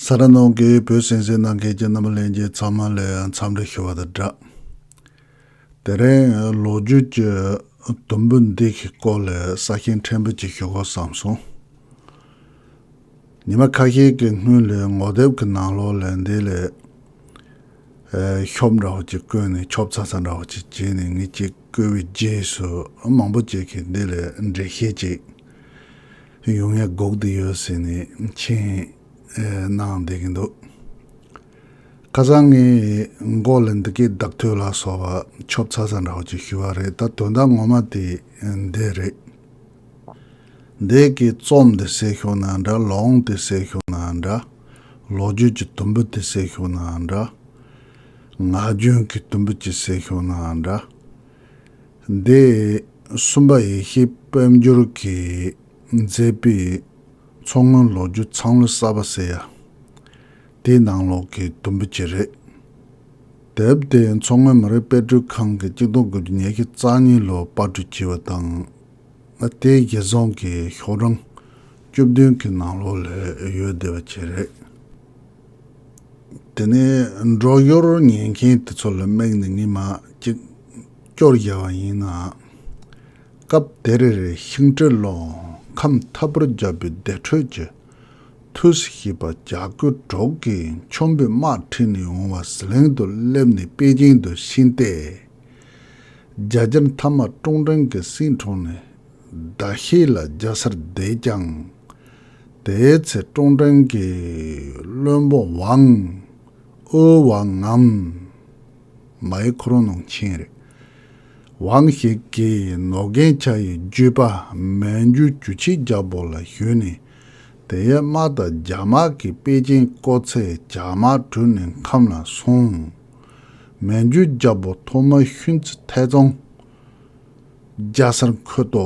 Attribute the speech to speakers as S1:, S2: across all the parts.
S1: ས་ར་ནང་གི་བོད་སེང་སེང་གནང་མཁན་གྱི་རྣམ་པ་ལེན་རྗེས་ཚང་མ་ལས་འཚམས་འདྲི་ཞུ་བ་དང་སྦྲགས། དེ་རིང་ལོ་རྒྱུས་ཀྱི་དུམ་བུ་འདི་གི་སྐོར་ལས་ས་ཞིང་ཕྲན་བུ་ཅིག་ཞུ་དགོས་བསམ་སོང། ཉི་མ་ཁ་ཤས་ཀྱི་སྔོན་ལས་ངོ་དེབ་ཀྱི་ནང་ལོག་ལས་འདི་ལས། ཤོབ་འདྲ་བོ་ཅིག་བཀོད་ནས་ཆོབ་ཚ་ཚ་འདྲ་བོ་ཅིག་བྱས་ནས་ངེད་ཅིག་བཀོད་པའི་རྗེས་སུ་མང་པོ་ཅིག་གིས་འདི་ལས་འགྲེལ་བཤད་ཅིག། ཡོང་ཡ་འགོག་དུ་ཡོད་ཟེར་ནས་མཆན་གནང་བསྡད་ཀྱི་འདུག་ཁ་སང་ངས་འགོ་ལ་འདི་སྐད་བདག་ཐོས་ལགས་སོགས་པ་ཆོབ་ཚ་ཚ་འདྲ་བོ་ཅིག་ཞུས་བ་རེད་ད་དོན་དག་ངོ་མ་དེ་འདི་རེད། འདས་ཀྱི་རྩོམ་དེ་གསལ་ཤོག་ན་འདྲ་ལོ་ཨང་དེ་གསལ་ཤོག་ན་འདྲ། ལོ་རྒྱུས་ཀྱི་དུམ་བུ་དེ་གསལ་ཤོག་ན་འདྲ། ངག་རྒྱུན་གྱི་དུམ་བུ་ཅིག་གསལ་ཤོག་ན་འདྲ། འདི་གསུམ་པ་ཡེ་ཤེས་དཔལ་འབྱོར་གྱིས་མཛད་པའི་མཚོ་སྔོན་ལོ་རྒྱུས་ཚང་ལོ་གསར་པ་ཟེར་ཡ་དེའི་ནང་ལོགས་ཀྱི་དུམ་བུ་གཅིག་རེད། དེབ་དེ་མཚོ་སྔོན་མི་རིགས་དཔེ་སྐྲུན་ཁང་གིས་གཅིག་སྟོང་དགུ་བརྒྱ་ཉེར་བཞི་རྩ་གཉིས་ལོར་དཔར་སྐྲུན་བགྱིས་པ་དང། དེའི་རྒྱལ་རྫོང་གི་ཤོག་གྲངས་བཅུ་བདུན་གྱི་ནང་ལོགས་ལས་ཡོལ་བདེ་བ་བྱས་རེད། དེ་ནས་འབྲོག་གཡོར་ཉན་མཁན་དེ་ཚོ་ལ་དམིགས་ནས་ངས་མ་ཅིག་སྐྱོར་བཞག་པ་ཡིན་ནའང། སྐབས་དེར་ཤིང་སྤྲེལ་ལོ་ཁམས་མཐའ་བར་རྒྱབ་པའི་བདེ་དྲོད་ཀྱི་མཐུས་སུ་ཤེས་པ་གྱ་དགུ་གྲོགས་ཀྱི་མཆོན་པོའི་དམག་ཁྲིད་ནས་འོང་བ་ཟི་ལིང་དུ་སླེབས་ནས་པེ་ཅིང་དུ་ཕྱིན་ཏེ། རྒྱ་རྒྱར་མཐའ་མ་ཀྲུང་ཀྲེང་གི་སྲིད་གྲོང་ནས་ཟླ་ཤས་ལ་རྒྱ་སར་བསྡད་ཀྱང། དེའི་ཚེ་ཀྲོང་ཀྲེང་གིས་བློན་པོ་ཝང་ཨོའུ་ཝང་ངམ། མའི་ཁོ་རང་ནང་ཆེན་རེད། ཝང་ཞིག་གིས་ནོ་རྒན་ཆ་ཡི་རྒྱུད་པ་མན་རྒྱུ་རྒྱུ་ཆིག་རྒྱ་བོ་ལ་ཞུས་ནས་དེ་ཡས་དམག་དང་རྒྱ་དམག་གིས་པེ་ཅིན་བསྐོར་ཚེ་བྱ་དམག་དྲུད་ནས་ཁམས་ལ་སོང། མན་རྒྱུ་རྒྱ་བོ་ཐོག་མ་ཤུན་ཙི་ཐའི་ཙོང། རྒྱ་སར་འཁོད་དོ།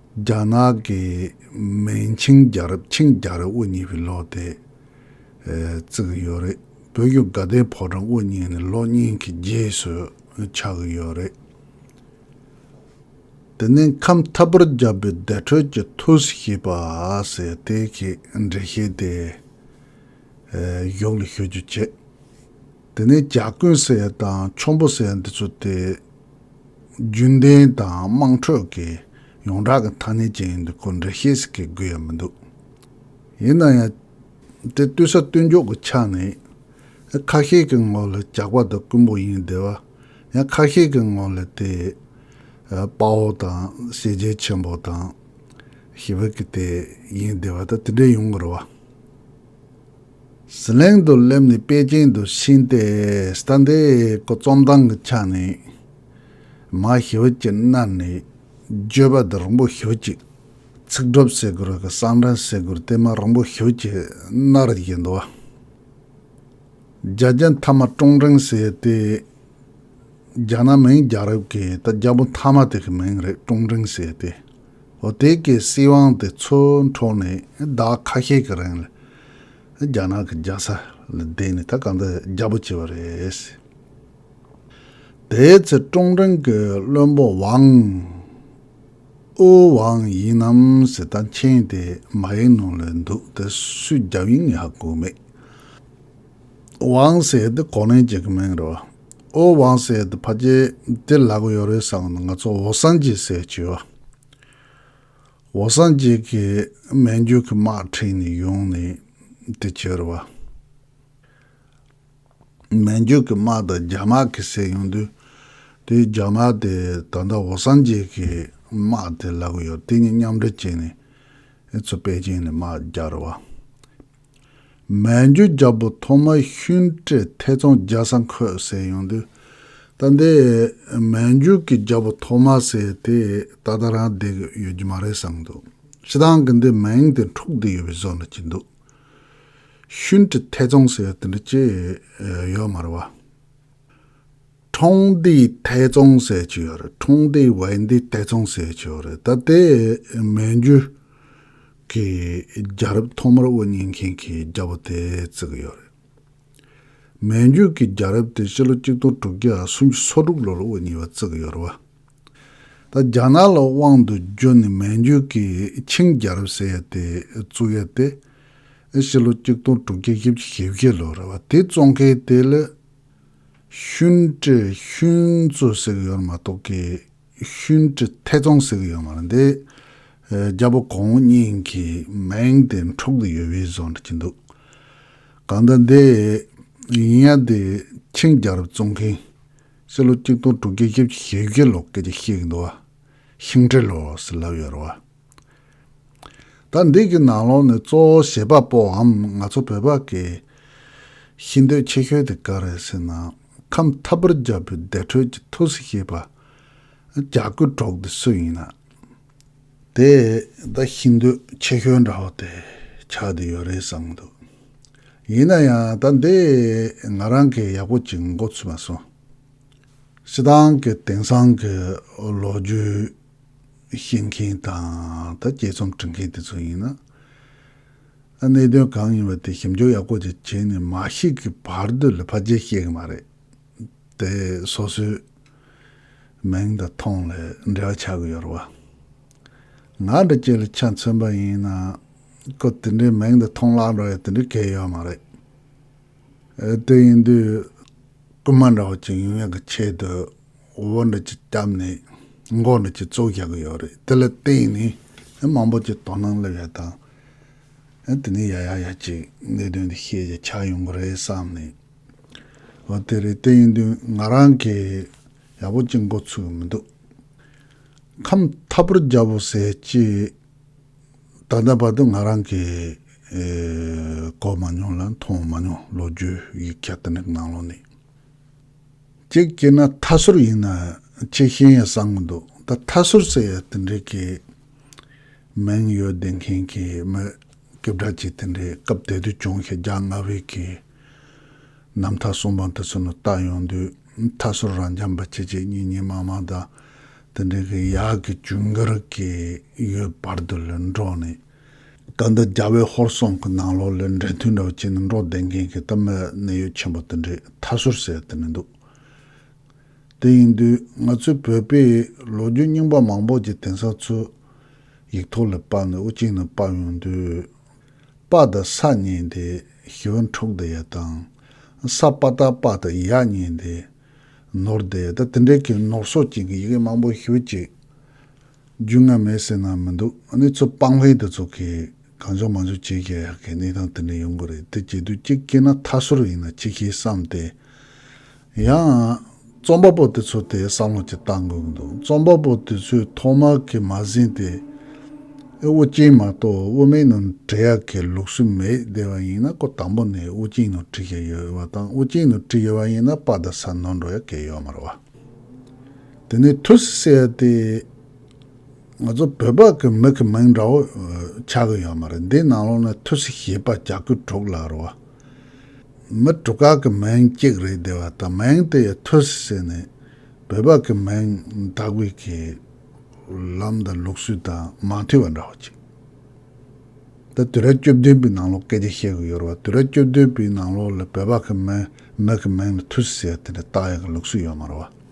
S1: རྒྱ་ནག་གི་མན་ཆིང་རྒྱལ་རབས་ཆིང་རྒྱལ་རབས་དབུ་བརྙེས་པའི་ལོ་དེ་བརྩི་གི་ཡོད་རེད། བོད་བརྒྱུད་དགའ་ལྡན་ཕོ་བྲང་དབུ་བརྙེས་ནས་ལོ་གཉིས་ཀྱི་རྗེས་སུ་ཆགས་གི་ཡོད་རེད། དེ་ནས་ཁམས་ཐབ་པར་བརྒྱབ་པའི་བདེ་དྲོད་ཀྱི་ཐུགས་སྲས་ཞེས་པ་ཟེར་དེ་གའི་འགྲེལ་བཤད་དེ་གཞུག་ལ་ཞུ་རྒྱུ་བྱེད། དེ་ནས་ཇག་རྐུན་སེར་དང་ཆོམ་པོ་སེར་འདི་ཚོ་སྟེ། རྒྱུན་ལྡན་དང་དམངས་ཁྲོད་ཀྱི་ཡོངས་གྲགས་ཀྱི་ཐ་སྙད་ཅན་ཡིན་འདུག་གོ་འབྲེལ་བཤད་ཞིག་གི་དགོས་ཡ་མི་འདུག་ཡིན་ན་ཡང། དེ་བསྟུན་ས་བསྟུན་འཇོག་གི་ཆ་ནས། ཁ་ཤས་ཀྱི་ངོ་ལ་ཇག་པ་དང་རྐུན་པོ་ཡིན་བདེ་བ། ཡང་ཁ་ཤས་ཀྱི་ངོ་ལ་དེ། དཔའ་བོ་དང་ཤེས་རྒྱལ་ཆེན་པོ་དང། ཞེས་བོད་ཀྱི་དེ་ཡིན་བདེ་བ་དང་དེ་འདྲས་ཡོང་གི་རེད་བ། ཟི་ལིང་དུ་སླེབས་ནས་པེ་ཅིང་དུ་ཕྱིན་ཏེ་སྟན་དེ་གོ་རྩོམ་སྟངས་ཀྱི་ཆ་ནས་མ་ཞི་བ་ཅན་གནར་ནས་བརྗོད་པ་འདི་རིང་པོ་ཞུ་ཅིག་ཚིག་སྒྲུབ་བསྲེ་སྒུར་གི་གསང་འདྲེན་བསྲེ་སྒུར་དེ་མ་རིང་པོ་ཞུ་ཅིག་གནར་བཞིན་འདུག་བ། རྒྱ་རྒྱ་མཐའ་མ་ཀྲུང་ཀྲེང་ཟེར་ཏེ། རྒྱ་ནག་མིང་རྒྱ་རབས་ཀྱི་ད་རྒྱ་བོ་མཐའ་མ་དེ་གི་མིང་རེད་ཀྲུང་ཀྲེང་ཟེར་ཏེ། འོ་དེ་གའི་སྲིད་དབང་དེ་ཚོའི་འཕྲོ་ནས་ཟླ་བ་ཁ་ཤས་ཀྱི་རིང་ལ། རྒྱ་ནག་གི་རྒྱལ་ས་ལ་བསྡད་ནས་ད་ག་འདི་རྒྱ་པོ་བྱས་པ་རེད། དེའི་ཚེ་ཀྲོང་ཀྲེང་གི་བློན་པོ་ཝང་ཨུ་ཝང་ཡིན་ནམ་ཟེར་ད་མཁྱེན་དེ་མ་ཡིན་ནོ་ལེ་འདུག་དེ་སུས་རྒྱབ་ཡིན་ངས་ཧ་གོ་མེད། ཝང་ཟེར་དེ་གོ་ནན་བྱེད་གི་མིན་རེད་བ་ཨུ་ཝང་ཟེར་དེ་ཕ་རྒྱལ་དེ་ལག་ཡོད་རེད་བསམ་ན་ང་ཚོ་ཝོ་སངས་རྒྱས་ཟེར་གྱི་ཡོད། འོ་སངས་རྒྱས་ཀྱི་སྨན་རྒྱུད་ཀྱི་དམག་འཁྲིད་ནི་ཡོང་ནས་དེ་བྱོལ་བ། སྨན་རྒྱུད་ཀྱི་དམག་དང་རྒྱ་དམག་གི་སྲས་ཡོང་དུས། དེའི་རྒྱ་དམག་དེ་ད་ལྟ་འོ་སངས་རྒྱས་ཀྱི་དམག་དེ་ལ་གོ་ཡོད་དེ་གཉིས་མཉམ་འབྲེལ་བྱས་ནས་ཨེ་ཚོ་པེ་ཅིང་ནས་དམག་རྒྱག་རུ་བ། མན་ཇུ་རྒྱལ་པོ་ཐོག་མ་ཤུན་ཀྲེ་ཐེ་ཙོང་རྒྱལ་ས་འཁོད་ཟེར་ཡོང་དུས། ད་འདི་མན་ཇུ་གི་རྒྱལ་པོ་ཐོག་མ་ཟེར་དེ་ད་ལྟ་རང་བསྡད་ཀྱི་ཡོད་ཀྱི་མ་རེད་བསམ་འདུག་ཕྱི་ཐང་གི་འདི་མིང་དེ་འཁྲུག་བསྡད་ཡོད་པའི་བཟོ་ན་ཅི་འདུག་ཤུན་ཀྲེ་ཐེ་ཙོང་ཟེར་དེ་འདྲ་ཅི་ཡོད་མ་རེད་བ། ཁྲོང་ཏི་ཐེ་ཙོང་ཟེར་ཅི་ཡོད་རེད་ཁྲོང་ཏི་ཝེ་འདི་ཐེ་ཙོང་ཟེར་ཅི་ཡོད་རེད་ད་འདི་མན་ཇུ། གི་རྒྱ་རབས་ཐོག་མར་དབུ་བརྙེས་མཁན་གྱི་རྒྱལ་པོ་དེ་བརྩི་གི་ཡོད་རེད། མན་རྒྱུད་ཀྱི་རྒྱལ་རབས་དེ་སྤྱི་ལོ་གཅིག་སྟོང་དྲུག་བརྒྱ་སུམ་ཅུ་སོ་དྲུག་ལོར་དབུ་བརྙེས་པ་བརྩི་གི་ཡོད་རེད་བ། ད་རྒྱ་ནག་ལ་དབང་དུ་བསྒྱུར་ནས་མན་རྒྱུད་ཀྱི་ཆིང་རྒྱལ་རབས་ཟེར་ཡས་དེ་བཙུགས་ཡས་དེ་སྤྱི་ལོ་གཅིག་སྟོང་དྲུག་བརྒྱ་དབྱིབས་ཀྱི་ཞེ་བརྒྱད་ལོར་རེད་བ་དེ་བཙོང་མཁན་དེ་ལི་ཤུན་ཀྲེ་ཤུན་ཙོ་ཟེར་གི་ཡོད་མ་གཏོགས་གི། ཤུན་གྱི་ཐད་ཙོང་ཟེར་གྱི་ཡོད་མ་རེད། རྒྱལ་པོ་གོང་བུ་གཉིས་ཀྱི་མིང་དེ་འཁྲུག་དུ་ཡོད་བུའི་བཟོ་གྱི་འདུག་གང་ལྟར་འདི་ཡིན་ཡང་དེ་ཆིང་རྒྱལ་རབས་བཙོང་མཁན་སྤྱི་ལོ་གཅིག་སྟོང་དྲུག་བརྒྱ་ཞེ་བཞི་ལོ་སྐད་ཆ་བཤད་ཀྱི་འདུག་བ་ཤིང་འབྲས་ལོ་ཟེར་ལབ་ཡོད་རེད་བ། ད་འདི་གི་ནང་ལོགས་ནས་གཙོ་བོ་གཞས་པ་པོའམ་ང་ཚོ་བོད་པ་གི་ཤི་འདོད་ཆེ་ཤོས་དེ་ག་རེད་ཟེར་ན་ཁམས་ཐབ་པར་རྒྱབ་པའི་བདེ་དྲོད་ཀྱི་ཐུགས་སུ་ཤེས་པ་རྒྱ་གུ་གྲོགས་དེ་སུ་ཡིན་ན་དེ་ད་ཤི་འདོད་ཆེ་ཤོས་འདྲ་བོ་དེ་ཆགས་དེ་ཡོད་རེད་བསམ་གི་འདུག་ཡིན་ན་ཡང་ད་འདི་ང་རང་གི་ཡག་པོ་ཅིག་མགོ་ཚུད་མ་སོང་ཤི་ཐང་གི་དེང་སང་གི་ལོ་རྒྱུས། ཤེས་མཁན་དང་ད་རྒྱས་རྩོམ་འབྲི་མཁན་དེ་ཚོ་ཡིན་ན། གནད་དོན་གང་ཡིན་པ་དེ་ཞིབ་འཇུག་ཡག་པོ་ཅིག་བྱས་ནས་མ་ཤེས་ཀི་བར་དུ་ལ་ཕ་རྗེས་བཤད་གི་མ་རེད་དེ། སོ་སོའི་མིང་དང་ཐོང་ལ་འབྲེལ་བ་ཆགས་གི་ཡོད་རེད་བ། ང་འདྲ་ཁྱེད་ལ་ཆ་མཚོན་པ་ཡིན་ན། ཁོ་དེ་འདྲའི་མིང་དང་ཐོང་བརླག་འགྲོ་ཡ་དེ་འདྲའི་གལ་ཡོད་མ་རེད། དེ་ཡིན་དུས། རྐུན་མ་འདྲ་བོ་ཅིག་ཡིན་ཡག་གི་ཆེད་དུ། བོད་འདི་ཀྱི་སྐྱབས་ནས་མགོ་འདི་ཀྱི་གཙོ་བཞག་གི་ཡོད་རེད་དེ་ལ་བརྟེན་ནས་མང་པོ་ཀྱི་དོ་སྣང་སླེབས་ཡ་དང་དེ་ནས་ཡ་ཡ་ཡ་ཀྱི་གནད་དོན་འདི་ཤེས་ཀྱི་ཆགས་ཡོང་གི་རེད་བསམ་ནས་ཨོ་དེ་རེད་དེ་ཡིན་དུས་ང་རང་གི་ཡག་པོ་ཅི་མགོ་ཚུགས་ཀྱི་མི་འདུག་ཁམས་ཐབ་པོར་རྒྱབ་བོ་ཟེར་ཀྱི་ད་ལྟ་བར་དུ་ང་རང་གི་གོ་མ་མྱོང་ལ་མཐོང་མ་མྱོང་ལོ་རྒྱུས་ཡིག་ཆ་དེ་འདྲ་གི་ནང་ལོགས་ནས། གཅིག་བྱས་ན་མཐའ་ཟུར་ཡིན་ན་ཆེ་བཞིན་ཡང་བཟང་གི་འདུག་ད་མཐའ་ཟུར་ཟེར་ཡ་དེ་འདྲའི་གི་མིང་ཡོད་བདེན་མཁན་གི་མི་སྐད་བསྒྲགས་བྱེད་དེ་འདྲའི་སྐབས་དེ་དུས་བྱུང་ཤ་རྒྱག་ང་བས་གི་ནམ་མཐའ་གསུམ་པ་འདི་ཚོ་ནི་ལྟ་ཡོང་དུས་མཐའ་ཟུར་རང་རྐྱང་པ་ཆེ་ཆེ་གཉིས་གཉིས་མང་མང་དང་དེ་འདྲའི་གི་ཡག་གི་བྱུང་གི་རིགས་གི་ཡོད་བར་དུ་ལུས་འགྲོགས་ནས། ད་ལྟ་རྒྱ་བལ་ཧོར་སོང་གི་ནང་ལོག་ལས་འབྲེལ་མཐུད་འདྲ་བོ་བྱེད་ནས་འགྲོ་བསྡད་མཁན་གྱི་གཏམ་དཔེ་གནད་ཡོད་ཆེན་པོ་དེ་འདྲས་མཐའ་སོར་གསལ་བསྡད་མི་འདུག་དེ་ཡིན་དུས་ང་ཚོའི་བོད་པའི་ལོ་རྒྱུས་རྙིང་པ་མང་པོ་ཀྱི་དེང་སང་ཚོས་ཡིག་ཐོག་ལས་དཔར་ནས་དབུ་གཅིག་ནས་དཔར་ཡོང་དུས། དཔའ་དང་ས་གཉིས་ཏེ་ཞི་བ་འཁྲུགས་བསྡད་ཡ་དང། ས་དཔའ་རྟ་དཔའ་དང་ཡ་གཉིས་ཏེ་ནོར་བསྡད་ཡ་ད་དེ་འདྲས་ཀྱི་ནོར་སོགས་ཅན་གྱི་ཡི་གེ་མང་པོ་ཞུ་ཅིག། རྒྱུས་མངའ་མེད་ཟེར་ན་མི་འདུག་གནས་ཚུལ་སྤང་ལྷན་དུ་ཚོགས་ཀྱིས་གང་བྱུང་མང་བྱུང་བྱས་ཀྱི་ཧ་གི་གནས་སྟངས་དེ་འདྲ་ཡོང་གི་རེད་དེ་བྱེད་དུས་གཅིག་སྐྱེས་ན་ཐ་སོར་ཡིན་ན་ཅི་ཤེས་བསམ་སྟེ། ཡང། རྩོམ་པ་པོ་དེ་ཚོ་དེ་བསམ་བློ་ཅིག་བཏང་དགོས་ཀྱི་འདུག་རྩོམ་པ་པོ་དེ་ཚོས་ཐོག་མ་གི་མ་ཟིན་ཏེ། ཨེ་དབུ་ཅན་མ་གཏོགས་དབུ་མའི་ནང་བྲིས་ཡག་གི་ལུགས་སྲོལ་མེད་བསྡད་པ་ཡིན་ན་ཁོ་དང་པོ་ནས་དབུ་ཅན་ནང་བྲིས་ཀྱི་ཡོད་བ་དང་དབུ་ཅན་ནང་བྲིས་ཡོད་པ་ཡིན་ན་དཔའ་དང་ཟ་ནོར་འགྲོ་ཡག་གི་ཡོད་མ་རེད་བ། དེ་ནས་ཐུར་སེ་སེ་ཡ་སྟེ། ང་ཚོ་བོད་པ་གི་མི་གི་མིང་འདྲ་བོ་ཆགས་གི་ཡོད་མ་རེད་འདི་ནང་ལོག་ནས་ཐུར་སེ་ཞེས་པ་གྱ་གུ་དྲུག་ལ་རོ། མི་དྲུག་ག་གི་མིང་གཅིག་རེད་དེ་བ་དང་མིང་དེ་ཡི་ཐུར་སེ་སེ་ནི་བོད་པ་གི་མིང་དག་པའི་གི་ལམ་དང་ལུགས་སྲོལ་དང་མ་མཐུན་བ་འདྲ་བོ་ཅིག་ད་དུས་རབས་བཅུ་བདུན་པའི་ནང་ལོག་སྐད་ཆ་བཤད་གི་ཡོད་རེད་བ་དུས་རབས་བཅུ་བདུན་པའི་ནང་ལོག་ལ་བོད་པ་གི་མི་མི་གི་མིང་ལ་ཐུར་སེ་སེ་ཡ་དེ་འདྲ་བཏགས་ཡོད་གི་ལུགས་སྲོལ་ཡོད་མ་རེད་བ།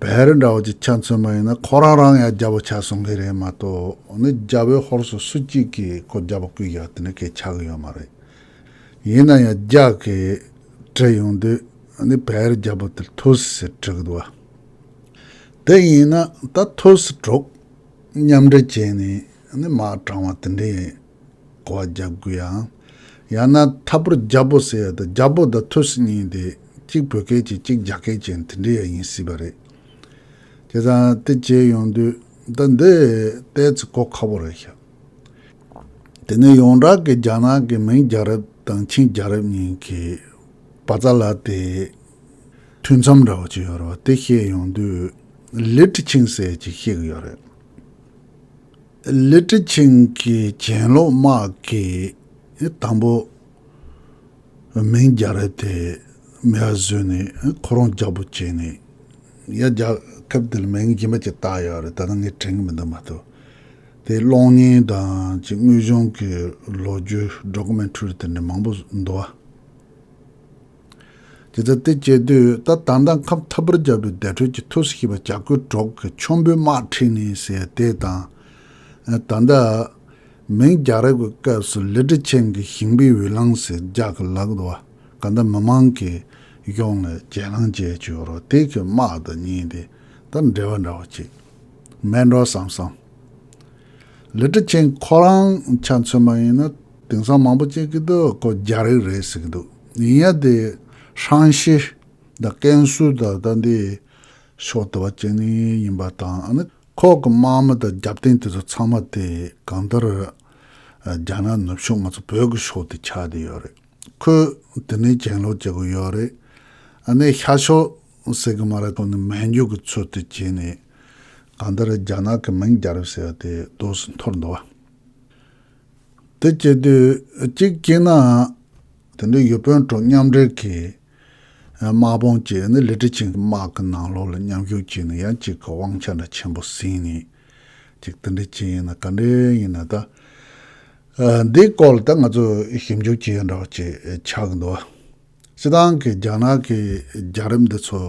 S1: བལ་རི་འདྲ་བོ་ཅིག་ཆ་མཚོན་པ་ཡིན་ན་ཁོ་རང་རང་ཡང་རྒྱ་བོ་ཆགས་སོང་གི་རེད་མ་གཏོགས་ནི་རྒྱ་བོའི་ཧོར་སུ་སུ་གཅིག་གིས་ཁོ་རྒྱ་བོ་སྐུལ་བཞག་དེ་ནི་གས་ཆགས་གི་ཡོད་མ་རེད། ཡིན་ན་ཡང་རྒྱ་གས་དྲི་ཡོང་དུས་ནི་བལ་རི་རྒྱ་བོ་དེར་ཐུགས་སུ་ཟེར་དྲི་གི་འདུག་བ། དེ་ཡིན་ན་ད་ཐུགས་སུ་གྲོགས་མཉམ་འབྲེལ་བྱས་ནས་ནི་མ་དྲང་བ་དེ་འདྲའི། གོ་བ་རྒྱག་དགོས་ཡང། ཡང་ན་མཐའ་བོར་རྒྱ་བོད་ཟེར་ཡ་དང་རྒྱ་བོད་དང་ཐུ་སི་གཉིས་དེ་གཅིག་བོད་སྐད་ཅན་གཅིག་རྒྱ་སྐད་ཅན་དེ་འདྲ་ཡ་ཡིན་སྲིད་པ་རེད། བྱས་ཙང་དེ་བྱས་ཡོང་དུས་ཟླ་འདི་ལྟའི་ཚེ་གོ་ཁ་བོ་རེད་ཤག། དེ་ནས་ཡོངས་གྲགས་ཀྱི་རྒྱ་ནག་གི་མིང་རྒྱ་རབ་དང་ཆིང་རྒྱ་རབ་གཉིས་ཀྱི་བ་ཙ་ལ་དེ་ཐུན་མཚམས་འདྲ་བོ་ཅིག་ཡོད་རེད་བ་དེ་བཤད་ཡོང་དུས་ལི་ཁྲི་ཆིང་ཟེར་ཅིག་བཤད་གི་ཡོད་རེད། ལི་ཀྲི་ཆིང་གི་གྱེན་ལོག་དམག་གི་དང་པོ་མིང་རྒྱ་རི་དེ་མེ་བ་བཟོས་ནས་ཁོ་རང་རྒྱག་པོ་བྱས་ནས་ཡ་རྒྱག་སྐབས་དེ་ལ་མིང་རྒྱུན་པ་ཅིག་བཏགས་ཡོད་རེད་ད་ནི་ངས་དྲན་གི་མི་འདུག་མ་གཏོགས་དེའི་གློག་བརྙན་དང་གཅིག་དངོས་བྱུང་གི་ལོ་རྒྱུས Documentary དེ་འདྲ་མང་པོ་འདུག་བ། དེ་ལྟར་དེ་སྐྱེས་དུས་ད་དང་ད་ཁམས་ཐབ་པར་སྦྱར་བའི་བདེ་དྲོད་ཀྱི་ཐུགས་སུ་ཤེས་པ་བྱ་རྒོད་གྲོག་གི་ཆོམ་པོའི་དམག་ཁྲིད་ནི་ཟེར་དེ་དང། ད་ལྟ། མིང་རྒྱག་རེས་ཀྱི་སྐབས་སུ་ལི་ཁྲི་ཆེན་གྱི་ཞིང་པའི་འོས་ལངས་ཟེར་རྒྱག་གི་ལག་ཏུ་བ་ག་ད་མི་མང་གིས་གཡོག་ནས་གྱེན་ལངས་བྱས་བྱུང་རོགས་དེ་གི་དམག་དང་གཉིས་དེ་ལྟར་འབྲེལ་བ་འདྲ་བོ་ཅིག་མེད་འགྲོ་བསམ་སོང། ལི་ཁྲི་ཆེན་ཁོ་རང་ཆ་མཚོན་པ་ཡིན་ན་དེང་སང་མང་པོ་བྱེད་ཀྱི་འདུག་སྒོ་རྒྱ་རིགས་རེད་ཟེར་གྱི་འདུག་ཡིན་ཡང་དེ་ཧྲང་ཤེ་དང་ཀན་སུའུ་དང་ད་ལྟའི་ཕྱོགས་དེ་བ་བཅས་ནི་ཡིན་པ་དང་ཨ་ནི་ཁོག་གི་དམག་མི་དང་རྒྱབ་རྟེན་དེ་ཚོ་ཚང་མ་དེ་གང་ལྟར་རྒྱ་ནག་ནུབ་ཕྱོགས་ང་ཚོ་བོད་ཀྱི་ཕྱོགས་དེ་ཆགས་དེ་ཡོད་རེད་ཁོས་དེ་ནས་གྱེན་ལོག་བྱེད་དགོས་ཡོད་རེད་ཨ་ནི་ཤར་ཕྱོགས་ཟེར་གྱི་མ་རེད་ཁོ་ནི་མན་ཇུ་གྱི་ཚུལ་དུ་བྱས་ནས་གང་ལྟར་རྒྱ་ནག་གི་མིང་རྒྱ་རིགས་ཟེར་བ་དེ་རྡོ་སུ་འཐོར་འདུག་བ། དེ་སྐྱེས་དུས་གཅིག་སྐྱེས་ནའང། དེ་འདྲའི་ཡུལ་དཔོན་ཁྲོད་མཉམ་འབྲེལ་གྱི་དམག་དཔུང་བཅས་ནི་ལི་ཀྲི་ཆིང་གི་དམག་གི་ནང་ལོགས་ལ་མཉམ་ཞུགས་བྱས་ནས་ཡང་གཅིག་གི་དབང་ཆ་འདྲ་ཆེན་པོ་ཟིན་ནས་ཅིག་དེ་འདྲའི་ཅི་ཡིན་ན་ག་འདྲའི་ཡིན་ན་ད། འདིའི་སྐོར་ལ་ད་ང་ཚོས་ཞིབ་འཇུག་བྱས་འདྲ་བ་ཅིག་ཆགས་གི་འདུག་སྤྱི་སྟངས་ཀྱི་རྒྱ་ནག་གི་རྒྱ་རིམ་འདི་ཚོ་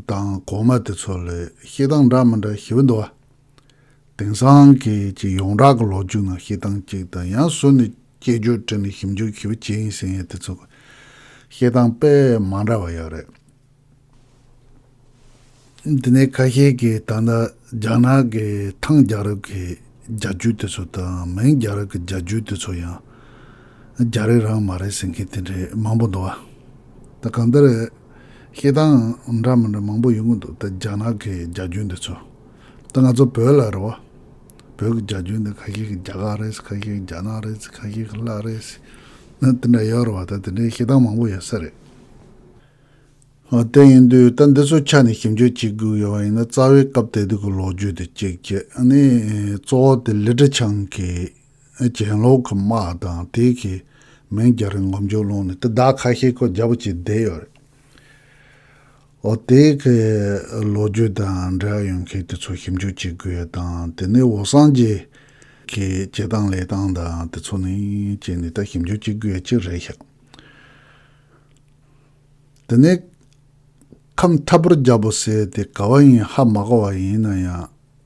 S1: དང་གོང་མ་དེ་ཚོ་ལས་གཤིས་སྟངས་འདྲ་མི་འདྲ་ཞིབ་འདུག་བ། དེང་སང་གི་ཀྱི་ཡོངས་གྲགས་ཀྱི་ལོ་རྒྱུས་ནང་བཤད་སྟངས་གཅིག་དང་ཡང་སོ་ནི་དཔྱད་བརྗོད་བྲིས་ནས་ཞིབ་འཇུག་ཞིབ་བྱེད་ཡིན་ཟེར་ཡས་དེ་ཚོ་བཤད་སྟངས་དཔེ་མ་འདྲ་བ་ཡོད་རེད། དེ་ནས་ཁ་ཤས་ཀྱིས་ད་ལྟ་རྒྱ་ནག་གི་ཐང་རྒྱ་རབས་ཀྱི་རྒྱ་རྒྱུད་དེ་ཚོ་དང་མིང་རྒྱ་རབས་ཀྱི་རྒྱ་རྒྱུད་དེ་ཚོ་ཡང་རྒྱ་རིགས་རང་མ་རེད་ཟེར་མཁན་དེ་འདྲའི་མང་པོ་འདུག་ད་གང་ལྟར་བཤད་སྟངས་འདྲ་མི་འདྲ་མང་པོ་ཡོད་ཀྱི་འདུག་ད་རྒྱ་ནག་གི་རྒྱ་རྒྱུད་འདི་ཚོ་ད་ང་ཚོ་བོད་ལ་རེད་བ། བོད་ཀྱི་རྒྱ་ཇུས་འདི་ཁ་ཤས་ཀྱི་རྒྱ་གར་རེད། ཁ་ཤས་ཀྱི་རྒྱ་ནག་རེད། ཁ་ཤས་ཀྱི་ལ་རེད། ནི་དེ་འདྲ་ཡོད་རེད་བ་ད་དེ་འདྲའི་ཤེས་སྟངས་མང་པོ་ཡོད་ས་རེད། ཧོ་དེ་ཡིན་དུས་ད་འདི་ཚོ་ཆ་ནས་ཞིབ་འཇུག་བྱེད་དགོས་ཡོད་བ་ཡིན་ན་རྩ་བའི་སྐབས་དེ་དུས་ཀྱི་ལོ་རྒྱུས་དེ་གཅིག་བྱས་ནས་གཙོ་བོ་དེ་ལི་ཀྲི་ཆང་གིས་གྱེན་ལོག་གི་དམག་དང་དེ་གིས་མིང་རྒྱ་རི་ངོམ་རྒྱུ་བླངས་ནས་དེ་བདག་ཁ་ཤས་ཁོ་རྒྱ་བོ་བྱས་བསྡད་ཡོད་རེད། འོ་དེ་གའི་ལོ་རྒྱུས་དང་འབྲེལ་ཡོད་མཁན་དེ་ཚོ་ཞིབ་འཇུག་བྱེད་དགོས་དང་དེ་ནས་འོ་སངས་རྒྱས་ཀྱི་བྱེད་སྟངས་ལས་སྟངས་དང་དེ་ཚོ་ནི་བྱས་ནས་ད་ཞིབ་འཇུག་བྱེད་དགོས་ཡ་གཅིག་རེད་ཤག་དེ་ནས་ཁམས་འཐབ་པོར་རྒྱབ་པོ་ཟེར་དེ་ག་བ་ཡིན་ཧ་མ་གོ་བ་ཡིན་ན་ཡང་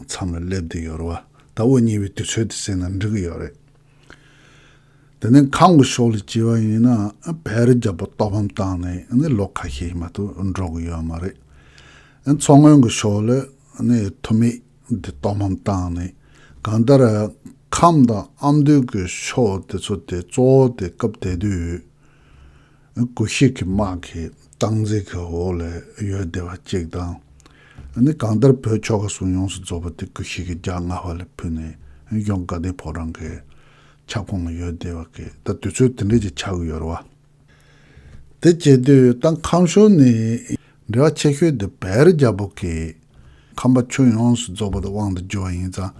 S1: མཚམས་ལ་སླེབས་དུས་ཡོལ་བ་ལྟ་བུ་གཉིས་པའི་དུས་ཚོད་དུ་སེམས་ལ་འགྲིག་གི་ཡོད་རེད། དེ་ནི་གང་གི་ཕྱོགས་ལ་བྱས་པ་ཡིན་ནའང་བལ་རྒྱ་བོ་རྟོགས་ཕམ་བཏང་ནས་ནི་ལོ་ཁ་ཤས་ཡིན་མ་གཏོགས་འགྲོ་གི་ཡོད་མ་རེད། མཚོ་སྔོན་གྱི་ཕྱོགས་ལ་ནི་ཐུ་མེད་དེ་རྟོགས་ཕམ་བཏང་ནས་གང་ལྟར་ཁམས་དང་ཨ་མདོའི་གི་ཕྱོགས་དེ་ཚོ་དེ་གཙོ་བོ་དེ་སྐབས་དེ་དུས་སྐུ་གཤེགས་ཀྱི་དམག་གི་སྟངས་འཛིན་གྱི་འོག་ལ་ཡོད་བདེ་བ་གཅིག་དང། ནི་གང་ལྟར་བོད་ཕྱོགས་ཁ་སང་ཡོངས་སུ་རྫོགས་པ་དེ་སྐུ་གཤེགས་ཀྱི་རྒྱ་སྔ་བ་ལས་ཕུད་ནས་གཞོན་དགའ་ལྡན་ཕོ་བྲང་གི་ཁྱབ་ཁོངས་ལ་ཡོད་བདེ་བ་གི་ད་དུས་ཚོད་དེ་འདྲས་ཀྱི་ཆགས་ཀྱི་ཡོད་རེད་བ། དེ་བྱེད་དུས་སྟངས་ཁམས་ཕྱོགས་ནས་འབྲེལ་བ་ཆེ་ཤོས་དེ་བལ་རྒྱ་བོད་ཀྱི་ཁམས་པ་ཁྱོན་ཡོངས་སུ་རྫོགས་པ་དང་དབང་དུ་བསྒྱུར་བ་ཡིན་ཙང་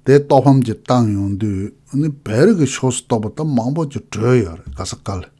S1: དེ་རྟོགས་ཕམ་གྱི་སྟངས་ཡོང་དུས་ནི་བལ་རིགས་ཀྱི་ཕྱོགས་སུ་གཏོགས་པ་ད་མང་པོ་ཅིག་བྲོས་ཡོད་རེད་ག་ས་ག་ལ།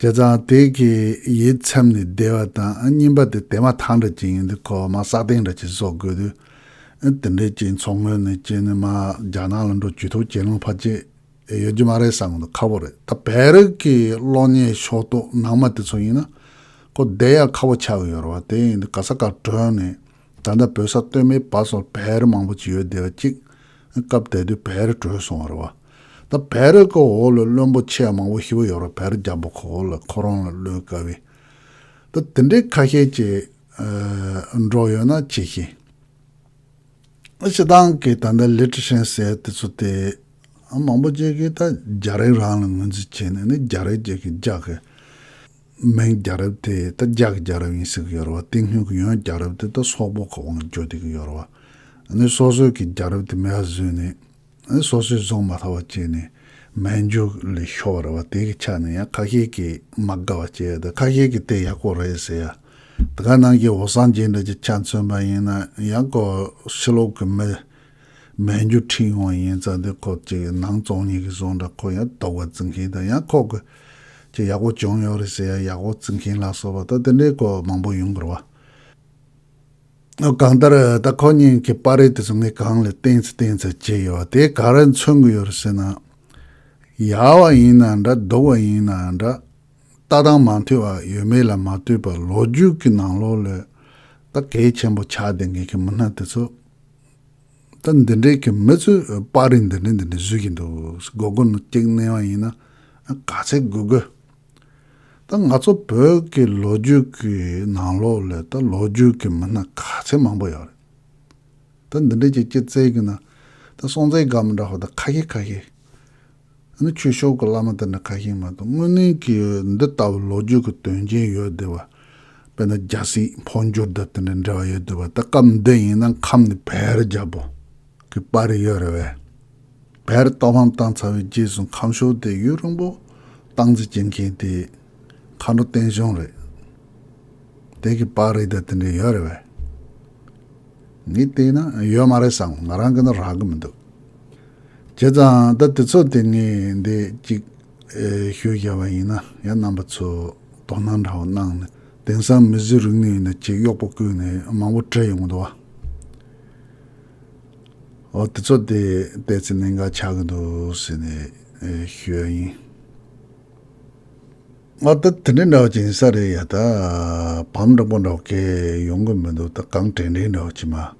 S1: བྱས་ཙང་དེ་གི་ཡིད་ཚིམ་ནས་བདེ་བ་དང་སྙིམ་པ་དེ་དེ་མ་ཐག་འདྲ་ཅིག་ཡིན་དུས་ཁོ་བ་མ་བསགས་སྟེང་འདྲ་ཅིག་བཟོ་དགོས་དུས། དེ་འདྲའི་སྐྱེས་མཚོ་སྔོན་ནས་སྐྱེས་ནས་མ་རྒྱ་ནག་ལ་འགྲོ་དུས་ཐོག་གྱེན་ལོང་ཕར་ཆད་ཡོད་རྒྱུ་མ་རེད་བསམ་དགོས་འདུག་ཁག་པོ་རེད་ད་བལ་རིགས་ཀྱི་གློག་བརྙན་ཤོག་ཐོག་ནང་མ་དེ་ཚོ་ཡིན་ན་ཁོ་བསྡད་ཡག་ཁག་པོ་ཆགས་ཡོད་རེད་བ་དེ་ཡིན་དུས་ག་ས་ག་བྲོས་ནས་ད་ལྟ་བོད་ས་སྟོད་སྨད་བར་སོར་བལ་རི་མང་པོ་ཅིག་ཡོད་དེ་བ་གཅིག་སྐབས་དེ་དུས་བལ་རི་བྲོས་སོང་བ་རེད་བ། ད་བལ་རི་ཁོ་འོག་ལ་བློན་པོ་ཆེ་མང་པོ་ཤི་བ་ཡོད་ར་བལ་རི་རྒྱ་པོ་ཁོ་འོག་ལ་ཁོ་རང་ལ་བློན་དཀའ་བའི། ད་དེ་འདྲའི་ཁ་ཤས་ཀྱི། འགྲོ་ཡོད་ན་ཆེ་ཤེས། ཞེ་སྡང་གི་ད་ལྟ་ལི་ཀྲི་ཧྲན་ཟེར་དེ་ཚོ་དེ། མང་པོ་ཅིག་གིས་ད་རྒྱ་རིགས་རང་ལ་ངོས་འཛིན་བྱེད་ནས་ནི་རྒྱ་རིགས་ཅིག་གིས་རྒྱ་གི། མན་རྒྱ་རབས་དེ་ད་རྒྱག་རྒྱ་རབས་ཡིན་ཟེར་གི་ཡོད་རེད་བ་སྟེང་སྣོད་ཀྱི་ཡོན་རྒྱ་རབས་དེ་ད་སོག་པོ་གི་དབང་འབྱོར་བསྡད་གི་ཡོད་རེད་བ། ནི་སོ་སོས་ཀྱི་རྒྱ་རབས་དེ་མེད་བ་བཟོས་ནས། ནི་སོ་སོས་བཟུང་མ་ཐག་བ་བྱས་ནས་མན་ཇུ་ལས་ཤོར་བ་རེད་བ་དེ་གི་ཆ་ནས་ཡང་ཁ་ཤས་ཀྱིས་མ་དགའ་བ་བྱས་ཡོད་ད་ཁ་ཤས་ཀྱིས་དེ་ཡག་པོ་རེད་ཟེར་ཡ། ད་ག་ནང་གི་བོ་སངས་རྒྱས་འདྲ་གྱི་ཆ་མཚོན་པ་ཡིན་ན་ཡང་གོ་ཕྱི་ལོག་གི་མི་མའི་མཇུག་འཕྲིན་ཡོང་བ་ཡིན་ཙང་དེ་ཁོག་ཅིག་གི་ནང་བཙོང་གཉིས་ཀྱི་བཟོ་འདྲ་ཁོ་ཡང་རྟོགས་པ་རྩི་མཁན་དང་ཡང་ཁོག་གི་ཅིག་ཡག་པོ་བྱུང་ཡོད་རེད་ཟེར་ཡང་ཡག་པོ་རྩི་མཁན་ལ་སོགས་པ་ད་དེ་འདྲའི་སྐོར་མང་པོ་ཡོང་དགོས་རེད། གང་ལྟར་ད་ཁོ་གཉིས་ཀྱི་པར་རིས་དེ་ཚོ་ངས་གང་ལ་བསྟན་ཚེ་བསྟན་ཚར་བྱས་ཡོད་བ་དེ་ག་རེ་མཚོན་གི་ཡོད་རེད་ཟེར་ན། ཡག་བ་ཡིན་ན་འདྲ་སྡུག་བ་ཡིན་ན་འདྲ། ལྟ་སྟངས་མ་མཐུན་བ་ཡོད་མེད་ལ་མ་ལྟོས་པར་ལོ་རྒྱུས་ཀྱི་ནང་ལོགས་ལས་ད་གལ་ཆེན་པོ་ཆགས་བསྡད་མཁན་གྱི་མི་སྣ་དེ་ཚོ། ད་འདི་འདྲའི་གི་མི་ཚོས་དཔར་རིས་འདི་འདྲ་འདི་འདྲ་བཟོས་ཀྱི་འདུག་སྒོར་སྒོར་ནང་སྐྱེག་གནས་བ་ཡིན་ན་ག་ཚད་དགོས་དགོས། ད་ང་ཚོ་བོད་ཀྱི་ལོ་རྒྱུས་ཀྱི་ནང་ལོགས་ལས་ད་ལོ་རྒྱུས་ཀྱི་མི་སྣ་ག་ཚད་མང་པོ་ཡོད་རེད། ད་འདི་འདྲའི་གི་སྐྱེ་རྩལ་གི་ནང་ད་སྲོང་བཙན་སྒམ་འདྲ་བ་ད་ཁ་ཤས་ཁ་ཤས། ཨ་ནི་ཁྱོད་ཤོག་གི་བླ་མ་དེ་འདྲ་ག་ཞིག་མ་གཏོགས་དངོས་གནས་ཀྱི་འདི་ལྟ་བུའི་ལོ་རྒྱུས་ཀྱི་དོན་རྐྱེན་ཡོད་བསྡད་པ། དཔེར་ན་རྒྱ་སྲིད་འཕོ་འགྱུར་དང་དེ་འདྲའི་འབྲེལ་བ་ཡོད་བསྡད་པ་ད་སྐབས་འདི་ཡིན་ན་ཁམས་ནི་བལ་རྒྱ་པོ་གི་པར་རིས་ཡོད་རེད་བས། བལ་རྟོགས་ལྷམ་བཏང་ཚར་བའི་རྗེས་སུ་ཁམས་ཤོག་དེ་ཡུལ་རིང་པོ་སྟངས་འཛིན་བྱེད་མཁན་དེ་མཁའ་འགྲོ་བསྟན་གཞོན་རེད་དེ་གི་པར་རིས་དང་དེ་འདྲའི་ཡོད་རེད་བས། ངས་བལྟས་ན་ཡོད་མ་རེད་བསམ་ང་རང་གི་ནི་རག་གི་མི་འདུག། བྱས་ཙང་ད་དུས་ཚོད་དེ་ངས་འདི་གཅིག་ཤོད་བཞག་པ་ཡིན་ན་ཡ་རྣམ་པ་ཚོས་དོགས་སྣང་འདྲ་བོ་གནང་ནས་དེང་སང་མི་བཟོས་རིག་ནུས་ནས་ཅིག་གཡོག་པོ་བསྐོས་ནས་མང་པོ་བྲིས་ཡོང་འདུག་ཨོ་དུས་ཚོད་དེ་བལྟས་ཚེ་གནད་འགག་ཆགས་ཀྱི་འདུག་ཟེར་ནས་ཤོད་ཡ་ཡིན། ཨོ་ད་དེ་འདྲ་འདྲ་བོ་ཅིག་ཡིན་ས་རེད་ཡ་ད་བམ་དྲང་པོ་འདྲ་བོ་སྐད་ཡོང་གི་མི་འདུག་ད་གང་དྲན་དྲན་འདྲ་བོ་ཅིག་མ།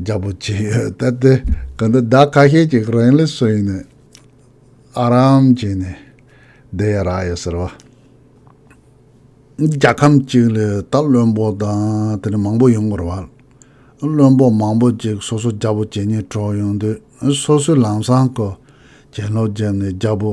S1: རྒྱ་པོ་བྱས་ཡོད་ད་དེ་ག་འདི་ཟླ་ཁ་ཤས་ཅིག་རིང་ལས་སུ་ཡིན་ནས་ཨ་རམ་བྱས་ནས་བསྡད་ཡ་རག་ཡོད་ཟེར་བ། རྒྱ་ཁམས་གཅིག་ལས་ད་བློན་པོ་དང་དེ་ནས་མང་པོ་ཡོང་དགོས་ར་བ། བློན་པོ་མང་པོ་ཅིག་སོ་སོ་རྒྱ་པོ་བྱས་ཉེས་གྲོགས་ཡོང་དུས་སོ་སོའི་ལམ་སང་གི་བྱན་སློབ་བརྒྱབ་ནས་རྒྱ་པོ་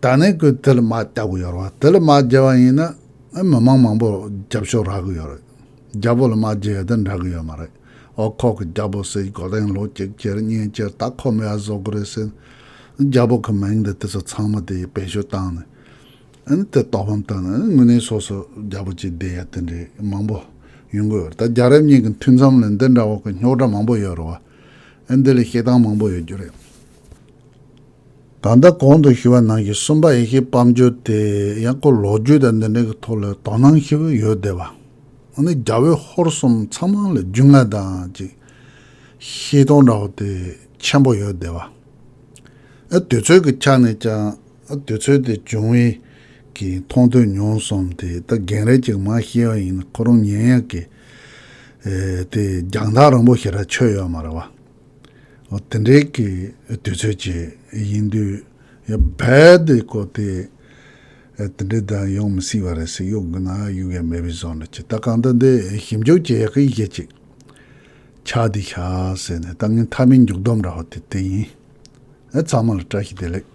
S1: ད་ནས་ཁོས་དེ་ལ་མ་བལྟ་གི་ཡོད་རེད་དེ་ལ་མ་བརྗེ་བ་ཡིན་ན་མི་མང་མང་པོ་རྒྱབ་ཤོག་རག་གི་ཡོད་རེད་རྒྱ་བོད་ལ་མ་བརྗེ་ཡོད་དེ་འདྲ་གི་ཡོད་མ་རེད་འོ་ཁོག་གི་རྒྱ་བོད་སྲིད་འགོ་གདན་ལོ་གཅིག་ཁྱེར་གཉིས་ཁྱེར་ད་ཁོ་མི་ཡ་བཟོ་གི་རེད་ཟེར་རྒྱ་བོད་གི་མིང་འདི་དེ་ཚོ་ཚང་མ་དེ་ཡི་བེད་སྤྱོད་བཏང་ནས་ཨིན་དེ་དོག་ཕམ་བཏང་ནས་དངོས་གནས་སོ་སོ་རྒྱ་བོད་ཅིག་བསྡད་ཡ་དེ་འདྲའི་མང་པོ་ཡོང་གི་ཡོད་རེད་ད་རྒྱ་རབ་གཉིས་ཀྱི་མཐུད་མཚམས་ལ་འདི་འདྲ་བོ་གི་རྙོག་དྲ་མང་པོ་ཡོད་རེད་བ་ཨིན་དེ་ལ་བཤད་སྟངས་མང་པོ་ཡོད་རྒྱུ་རེད། ད་ལྟ་གོང་དུ་ཞུས་པ་ནང་གི་གསུམ་པ་ཡེ་ཤེས་སྤམ་བྱོས་དེ་ཡང་སྐོར་ལོག་རྒྱུད་དང་འདི་འདྲ་གི་ཐོག་ལ་དོ་སྣང་ཤི་བོ་ཡོད་བསྡད་པ། འོ་ན་རྒྱ་བོད་ཧོར་གསུམ་ཚང་མ་ལ་རྒྱུས་མངའ་དང་ཅིག་ཤེས་སྟོང་འདྲ་བོ་དེ་ཆེན་པོ་ཡོད་བསྡད་པ། ཨ་དུས་ཚོད་ཀྱི་ཆ་ནས་ཀྱང་ཨ་དུས་ཚོད་དེ་བྱུང་བས་ཀྱི་མཐོང་ཐོས་མྱོང་གསུམ་དེ་ད་རྒན་རས་ཅིག་མ་ཤེས་པ་ཡིན་ན་ཁོ་རང་ཉན་ཡག་གི། དེ་རྒྱང་ཐག་རིང་པོ་ཞིག་ར་ཆོད་ཡོད་མ་རེད་བ། དེ་འདྲའི་གི་དུས་ཚོད་ཅིག་ཡིན་དུས་བལ་དུ་བཀོལ་ཏེ་དེ་འདྲའི་དང་ཡོང་མི་སྲིད་པ་རེད་སྲིད་གཡུག་གི་ན་གཡུག་ཡ་མེད་པའི་བཟོ་འདྲ་ཅིག་ད་གང་ལྟར་འདི་ཞིབ་འཇུག་བྱེད་ཡག་གི་ཡེད་ཅིག་ཆགས་འདི་ཤག་ཟེར་ནས་ལྟ་ངན་མཐའ་མའི་མཇུག་སྡོམ་འདྲ་བ་དེ་དེ་ཡིན་ཨེ་ཚང་མ་ལ་བཀྲ་ཤིས་བདེ་ལེགས།